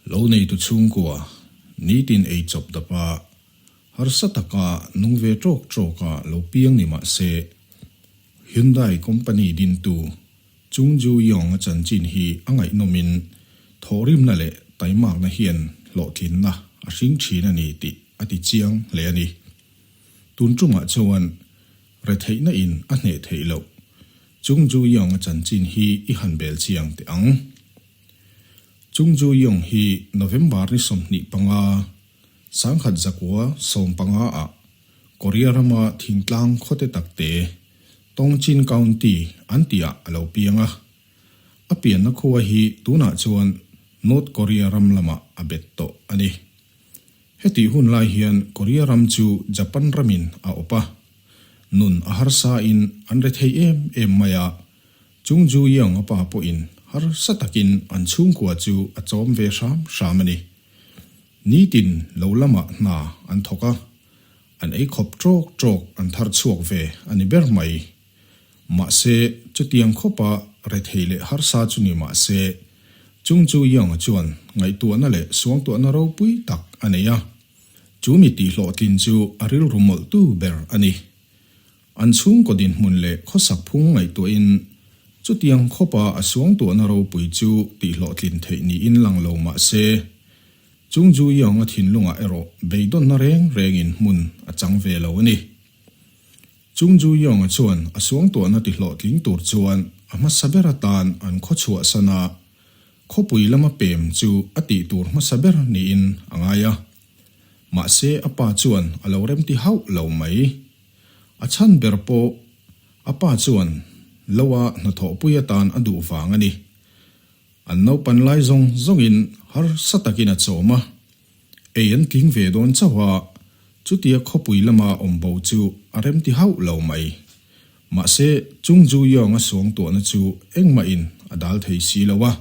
Lo neitu chhungkua nitin ei chawp dap a, harsa taka nung ve tawk tawk a lo piang ni mah se, Hyundai company dintu Chung Ju Yong a chanchin hi a ngaihnawmin thawhrimna leh taimakna hian hlawhtlinna a hring thin a ni tih a ti chiang hle a ni. Tun chungah chuan retheihna in a hneh theih loh Chung Ju Yong a chanchin hi i han bel chiang teh ang. Chung Ju Yong hi November ni sawmhnih panga sangkhat zakua sawm panga ah Korea rama thingtlang khawte takte Tongchin County an tih a a lo piang a. A pianna khua hi tunah chuan North Korea ram lamah a bet tawh a ni. Hetih hun lai hian Korea ram chu Japan ramin a awp a, nun a harsain an re thei em em mai a, Chung Ju-yong a pa pawhin harsa takin an chhungkua chu a chawm ve hram hram a ni. Nitin lo lamah hna an thawk a, An ei khawp trawk trawk an thar chhuak ve a ni ber mai. Mahse, chutiang khawpa rethei leh harsa chu ni mah se, Chung Tzu Yang-a chuan ngaihtuahna leh suangtuahna ropui tak a nei a. Chu mi tihhlawhtlin chu a rilru mawlhtu ber a ni. An chhungkaw dinhmun leh khawsak phung ngaihtuahin chutiang khawpa a suangtuahna ropui chu tihhlawhtlin theih niin lang lo mah se, Chung Ju Yong a thinlungah erawh beidawnna reng rengin hmun a chang ve lo a ni. Chung Ju Yong-a chuan a suangtuahna tihlawhtling tur chuan a hmasa ber atan an khaw chhuah sana khawpui lama pem chu a tih tur hmasa ber niin a ngai a. Mahse a pa chuan a lo remti hauh lo mai. A chhan ber pawh a pa chuan Loa hnathawhpui atan a duh vang a ni. An naupan lai zawng zawngin harsa takin a chawm a, ei an tling ve dawn chauh a, chutia khawpui lama awm bo chu a remti hauh lo mai. Mahse, Chung Ju Yeonga suangtuahna chu engmahin a dal thei si lo a,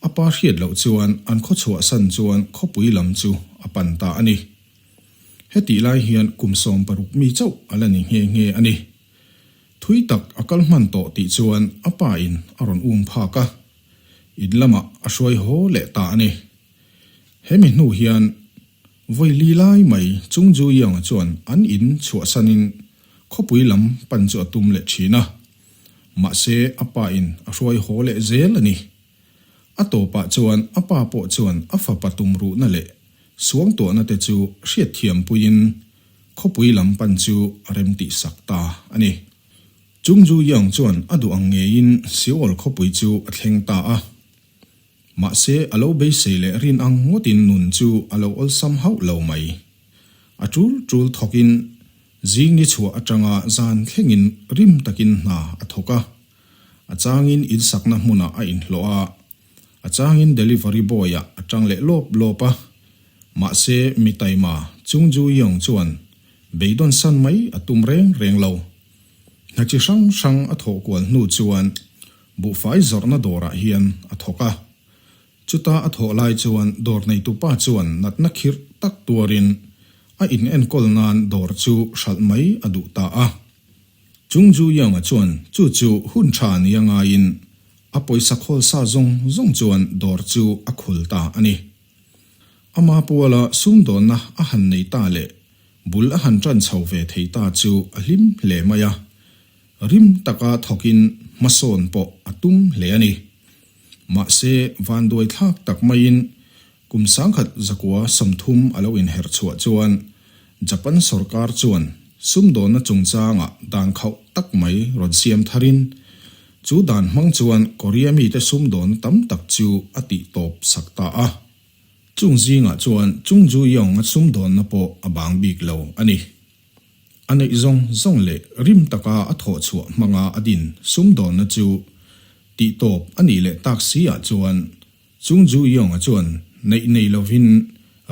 a pa hriat loh chuan an khaw chhuahsan chuan khawpui lam chu a pan ta a ni. Hetih lai hian kum sawm paruk mi chauh a la ni nghe nghe a ni. Thui tak a kal hman tawh tih chuan a pa in a rawn um phak a, in lamah a hruai haw leh ta a ni. Hemi hnu hian Vawili lai mai Chung Zuianga chuan an in chhuahsan in khawpui lam pan chu a tum leh thin a, mahse a pa in a hruai haw leh zel a ni. A tawpah chuan a pa pawh chuan a fa patum ruhna leh suangtuahna te chu hriatthiam puiin khawpui lam pan chu a rem tihsak ta a ni. Chung Ju Yong chuan a duh ang ngeiin Seoul khawpui chu a thleng ta a. Mahse, a lo beisei leh rin ang ngawtin nun chu a lo awlsam hauh lo mai. A tul tul thawkin zing nichhuah atanga zan thlengin rim takin hna a thawk a. A changin in sakna hmunah a inhlawh a, a changin delivery boy-a a ṭang leh lawp lawp a. Mahse, mi taima Chung Ju Yeong chuan beidawn san mai a tum reng reng lo. Hna chi hrang hrang a thawh kual hnu chuan buhfai zawrhna dawrah hian a thawk a. Chuta a thawh lai chuan dawr neitu pa chuan natna khirh tak tuarin a in enkawl nan dawr chu hralh mai a duh ta a. Chung Zhu Yonga chuan chu chu hun tha ni a ngaiin a pawisa khawlsa zawng zawng chuan dawr chu a khul ta a ni. A Mapuala sumdawnna a han nei ta leh bul a han tan chho ve thei ta chu a hlim hle mai a, rim taka thawkin hmasawn pawh a tum hle a ni. Mahse, vanduai thlak tak maiin kum sangkhat zakua sawmthum a lo inherh chhuah chuan Japan sawrkar chuan sumdawnna chungchanga dan khauh tak mai rawn siam thar in, chu dan hmang chuan Korea mite sumdawn tam tak chu a tih tawp sak ta a. Chung zingah chuan Chung Ju-yong-a sumdawnna pawh a bang bik lo a ni. A neih zawng zawng leh rim taka a thawh chhuah hmanga a din sum dawna chu tih tawp a nih leh tak si-ah chuan Chung Ju Yeong-a chuan neih nei lovin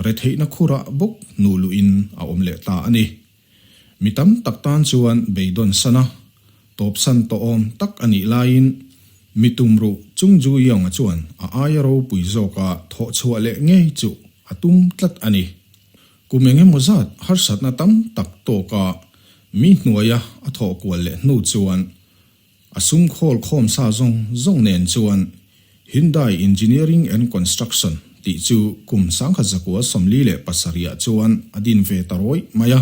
retheihna khura bawk hnu luhin a awm leh ta a ni. Mi tam tak tan chuan beidawn sana tawpsan tawhawm tak a nih laiin mi tumruh Chung Ju Yeong-a chuan a aia ropui zawka thawh chhuah leh ngei chu a tum tlat a ni. Kum eng emaw zat harsatna tam tak tawka mi hnuaia a thawh kual leh hnu chuan a sum khawl khawm sa zawng zawng nen chuan Hyundai Engineering and Construction tih chu kum sangkhat zakua sawmli leh pasarihah chuan a din ve ta rawih mai a.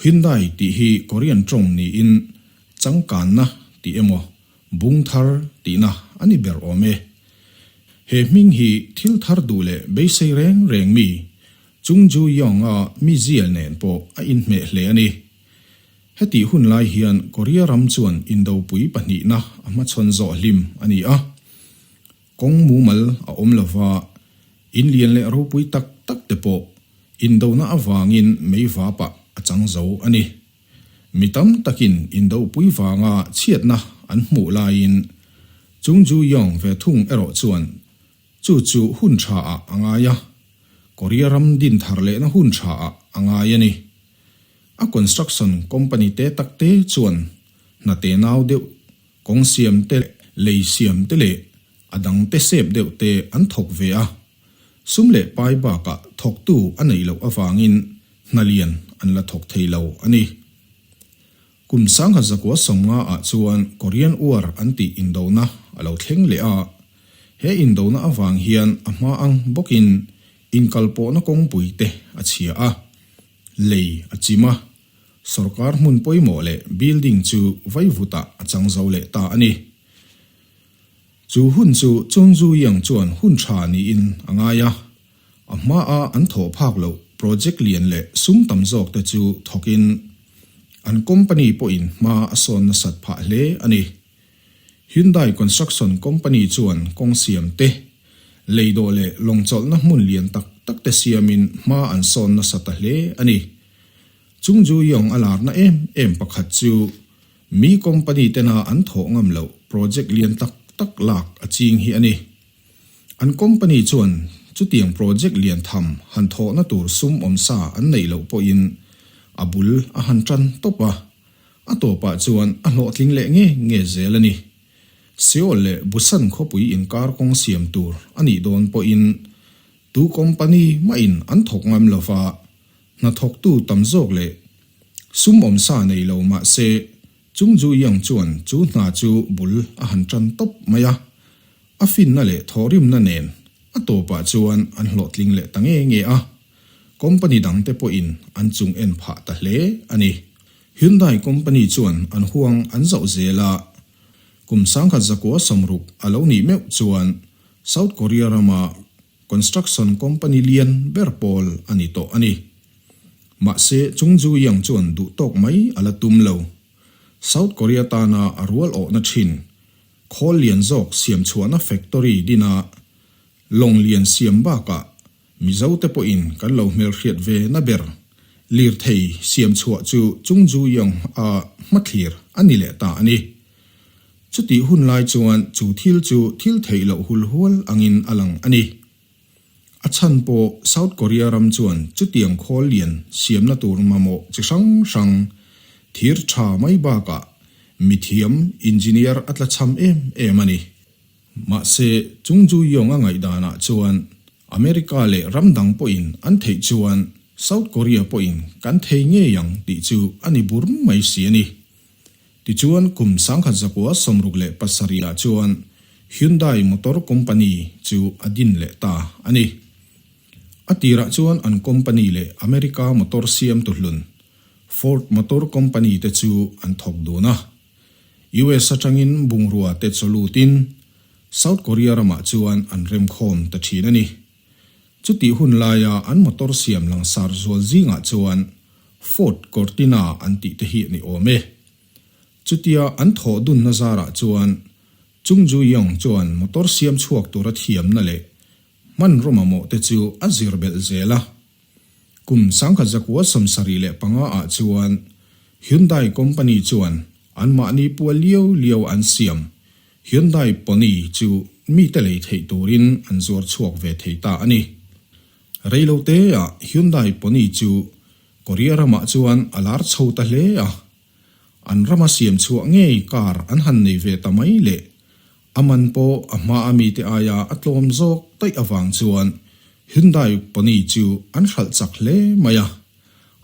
Hyundai tih hi Korean tawng niin changkanna tih emaw Bung thar tihna a ni ber awm e. He hming hi thil thar duh leh beisei reng reng mi Chung Ju Yong-a mi zial nen pawh a inhmeh hle a ni. Hetih hun lai hian Korea ram chuan indopui pahnihna a hmachhawn zawh hlim a ni a, kawng mumal a awm lova in lian leh ropui tak tak te pawh indona avangin mei vapah a chang zo a ni. Mi tam takin indohpui vanga chhiatna an hmuh laiin Chung Ju Yong ve thung erawh chuan chu chu hun tha ah a ngai a, Korea ram din thar lehna hun tha ah a ngai a ni. A construction company te tak te chuan hnate nau deuh, kawng siam te leh lei siam te leh a dangte sep deuh te an thawk ve a. Sum leh pai bakah thawktu a neih loh avangin hnalian an la thawk thei lo a ni. Kum sangha zakua sawmnga ah chuan Korean War an tih indona a lo thleng leh a. He indona avang hian a hma ang bawkin inkalpawhna kawngpui te a chhia a, lei a chim a, sorkar hmun pawimawh leh building chu vaivutah a chang zo leh ta a ni. Chu hun chu Chun Zu Yiang chuan hun tha niin a ngai a, a hmaa an thawh phak loh project lian leh sum tam zawk te chu thawkin an company pawhin hma a sawn nasat phah hle a ni. Hyundai Construction Company chuan kawng siam te, lei dawh leh lawng chawlhna hmun lian tak tak te siamin hma an sawn nasa ta hle a ni. Chun Zu Yiang a larna em em pakhat chu, Mi company tena an thawh ngam loh project lian tak tak lak a ching hi a ni. An company chuan chutiang project lian tham han thawhna tur sumawm sa an neih loh pawhin a bul a han tan tawp a, a tawpah chuan a hlawhtling leh nge nge zel a ni. Seoul leh Busan khawpui inkar kawng siam tur a nih dawn pawhin tu company mahin an thawk ngam lova Hnathawktu tam zawk leh sumawm sa nei lo mahse, Chung Ju Iang chuan chu hna chu bul a han tan tawp mai a. A finna leh thawhrimna nen a tawpah chuan an hlawhtling leh ta nge nge a. Company dangte pawhin an chung en phah ta hle a ni. Hyundai Company chuan an huang an zauh zel a. Kum sangkhat zakua samruk a lo nih meuh chuan South Korea rama Construction company lian ber pawl a ni tawh a ni. Mahse Chung Zui Yang chuan duh tawk mai a la tum lo. South Korea tana a rual awhna thin. Khawl lian zawk siam chhuahna factory dina lawng lian siam bakah Mizo te pawhin kan lo hmelhriat ve na ber. Lirthei siam chhuah chu Chung Zui Yang-a hmathlir a ni leh ta a ni. Chutih hun lai chuan chu thil chu thil theih loh hul hual angin a lang a ni. A chhan pawh South Korea ram chuan chutiang khawl lian siamna tur mamawh chi hrang hrang thir tha mai bakah mithiam engineer a tla cham em em a ni. Mahse, Chung Ju-yong a ngaihdanah chuan America leh ram dang pawhin an theih chuan South Korea pawhin kan thei ngei ang tih chu a ni bur mai si a ni. Tichuan, kum sangkhat zakua sawmruk leh pasarihah chuan Hyundai Motor Company chu a din leh ta a ni. A tirah chuan an company leh America motor siam tuhlun Ford Motor Company te chu an thawk dun a. US atangin bungrua te chaw lutin South Korea ramah chuan an remkhawm ta thin a ni. Chutih hun laia an motor siam langsar zual zingah chuan Ford Cortina an tih te hi a ni awm e. Chutia an thawh dunna zarah chuan Chung Ju-yong chuan motor siam chhuak tura thiamna leh hman rawmamawh te chu a zir belh zel a, Kum sangkhat zakua sawmsarih leh panga ah chuan Hyundai company chuan an mahni pual lio lio an siam, Hyundai Pony chu mite lei theih turin an zuar chhuak ve thei ta a ni. Reilo te ah Hyundai Pony chu Korea ram ah chuan a lar chho ta hle a, an ram a siam chhuah ngei car an han nei ve ta mai leh A man pawh a hma a mite aia a tlawm zawk taih avang chuan Hyundai pony chu an hralh chak hle mai a.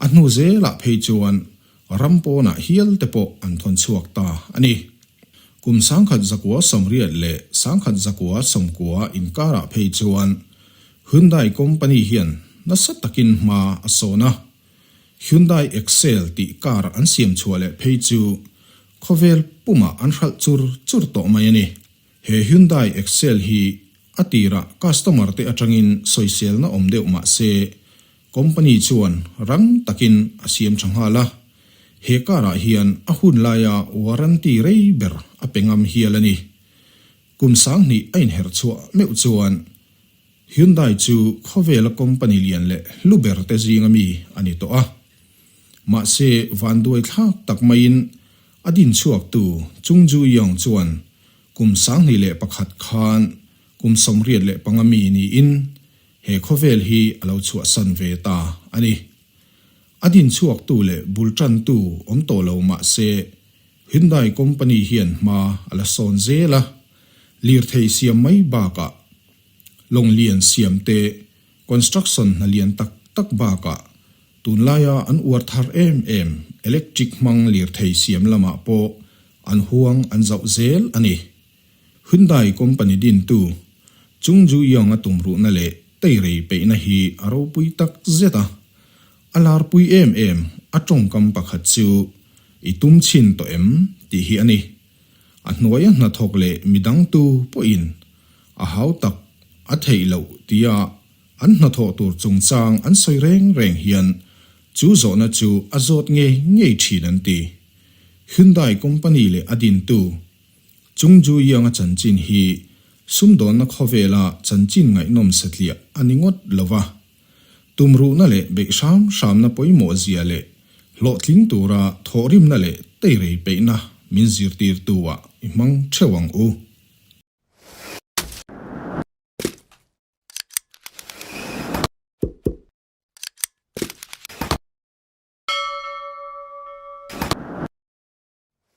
A hnu zelah phei chuan ram pawnah hial te pawh an thawn chhuak ta a ni. Kum sangkhat zakua sawmriat leh sangkhat zakua sawmkua inkarah phei chuan Hyundai company hian nasa takin hma a sawn a. Hyundai Excel tih car an siam chhuah leh phei chu Khawvel pumah an hralh chur chur tawh mai a ni. He Hyundai Excel hi a tirah customer te atangin sawiselna awm deuh mah se, company chuan rang takin a siam tha nghal a. He car-ah hian a hun laia warranty rei ber a pe ngam hial a ni. Kum sang hnih a inher chhuah meuh chuan Hyundai chu khawvela company lian leh hlu ber te zinga mi a ni tawh a. Mahse vanduai thlak tak maiin a dinchhuaktu Chung Ju-yong chuan kum sanghnih leh pakhat khan kum sawmriat leh panga mi niin he khawvel hi a lo chhuahsan ve ta a ni. A dinchhuaktu leh bulṭantu awm tawh lo mahse Hyundai company hian hma a la sawn zel a, lirthei siam mai bakah Lawng lian siam te, construction hna lian tak tak bakah tunlaia an uar thar em em, electric hmang lirthei siam lamah pawh an huang an zauh zel a ni. Hyundai company dintu Chung Ju-young-a tumruhna leh teirei peihna hi a ropui tak zet a, a larpui em em a tawngkam pakhat chu i tum chhin tawh em tih hi a ni. A hnuaia hnathawk leh midangtu pawhin a hau tak a theih loh tia an hnathawh tur chungchang an sawi reng reng hian chu zawhna chu a zawt ngei ngei thin an ti. Hyundai company leh a dintu Chung Ju-Yianga chanchin hi sumdawnna khawvela chanchin ngaihnawm satliah a ni ngawt lo va. Tumruhna leh beih hram hramna pawimawh zia leh hlawhtling tura thawhrimna leh teirei peihna min zirtirtuah i hmang theuh ang u.